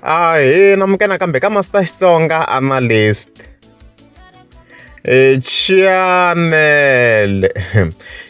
Ahee namukela kambe ka Master Xitsonga Analyst. E Chianele.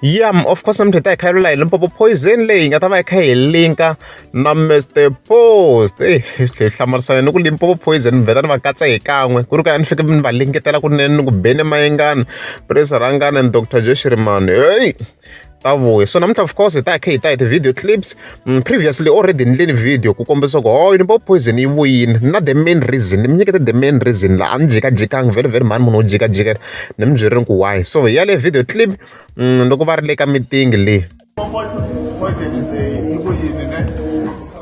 Yeah, of course mthi ta hi khayelo layi Limpopo poison leyi nga ta va yi kha hi linka na Mr Post. Ey, hi hlamarisana ni ku Limpopo poison mi vheta ni va katsa hi kan'we. Ku ri ka ni fike ni va lingetela kunene ni ku beni mayengani, Prince Rhangani and Doctor Joe Shirimani. Hey! ta vuya so namuntlha of course hi ta khe hi ta hi ti-video clips mm, previously already ni endleni video ku kombisa ku hoyo oh, ni bo poison yi vuyini na the main reason ni mi nyikete the main reason laha a ni jikajikangi vhele vhele mhani munhu wo jikajika ni mi byerile ku why so hi ya le video clip mm, loko va ri le ka meeting leyi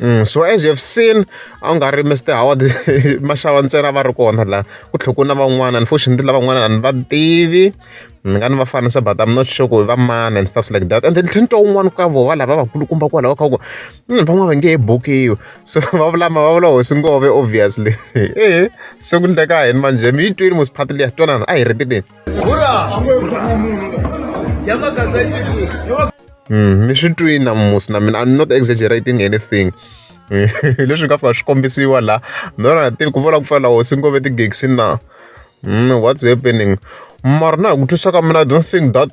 Mm, so as you have seen a wu nga ri Mister Howard maxava ntsena va ri kona la ku tlhela ku na van'wana unfortunately lavan'wana a ni va tivi ni nga ni va fanisa but I'm not sure ku hi va mani and stuff like that and then tlhela ni twa un'wana ka vona lava vakulukumba kwalaho ka ku mm, van'wana va nge he bukiwi so va vulama va vula hosi ngove obviously ehe se ku ndleka hini manje mi yi twile mosiphatile ya twanana a hi ripiteni Mm, mi swi twini namusi na mina i'm not exaggerating anything leswi nga fika swi kombisiwa laha ndona tivi ku vula ku fana lawo swi ngove ti-gigsi na mm, what's happening mara na hi ku twisa ka mina i don't think that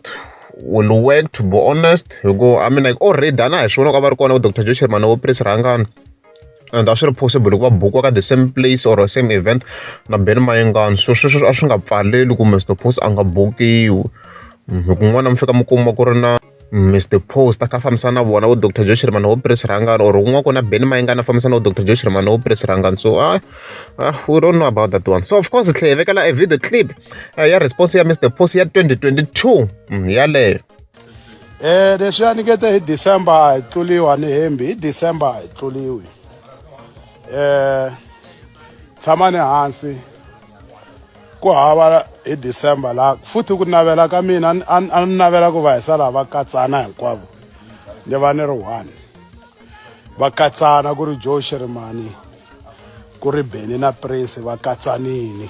will work to be honest hikuva i mean like already a na hi swi vona ku a va ri kona vo doctor joe sherman vo prince rhangani and a swi ri possible hikuva bukiwa ka the same place or same event na ben mayengani so sweswo a swi nga pfaleli ku mr post a nga bukiwi mm, hi kun'wana mi fika mi kuma ku ri na mr mm, post a kha fambisana na vona vo dr josh rimana wo pres rangani or kun'wana ku na ben mayengani a fambisana vo dr josh rimana wo pres rangani so ah, ah, we don't know about that one so of course tlhe hi vekela a video clip uh, ya response ya mr post ya 2022 mm, yaleyo Eh leswi a nikete hi December a hi tluliwa ni hembi hi December a hi tluliwi eh tshama ni hansi ku hava hi December la futhi ku navela ka mina a ni navela ku va hi sala va katsana hinkwavo ni va ni ri one va katsana ku ri Joe Shirimani ku ri Benny na Prince va katsanini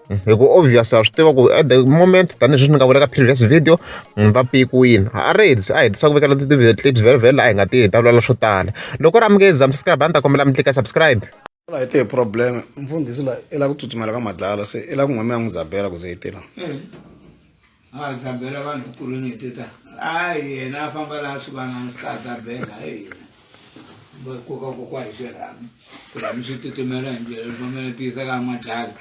hi ku obvious wa swi tiva ku at the moment tanihileswi ni nga vula ka previous video munhu va pikiwile a ri heti a hetisa ku vekela ti-video clips vhele vhele a hi nga ti heta vulala swo tala loko ri amukeza mscribe a ni ta kombela mi tlika subscribe la hi te problem mfundhisi la i la ku tsutsumela ka madlala se i la ku n'we mi ya n'wi zabela ku ze yi tirha mm. a ta bela vanhu ku ri n'hweti ta a yena a famba laha swi vanani swi ta ta bela hi yena va koka kokwa hi xirhami xirhami xi titimela hi ndlela lomamela tiyisa ka madlala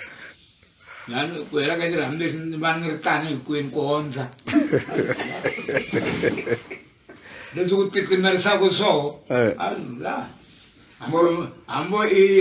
lani ku hela ka xirhami lexi ni va ni ri tani hinkwenu ku ondla leswi ku titimerisaka soo eh. a la hambo hambo i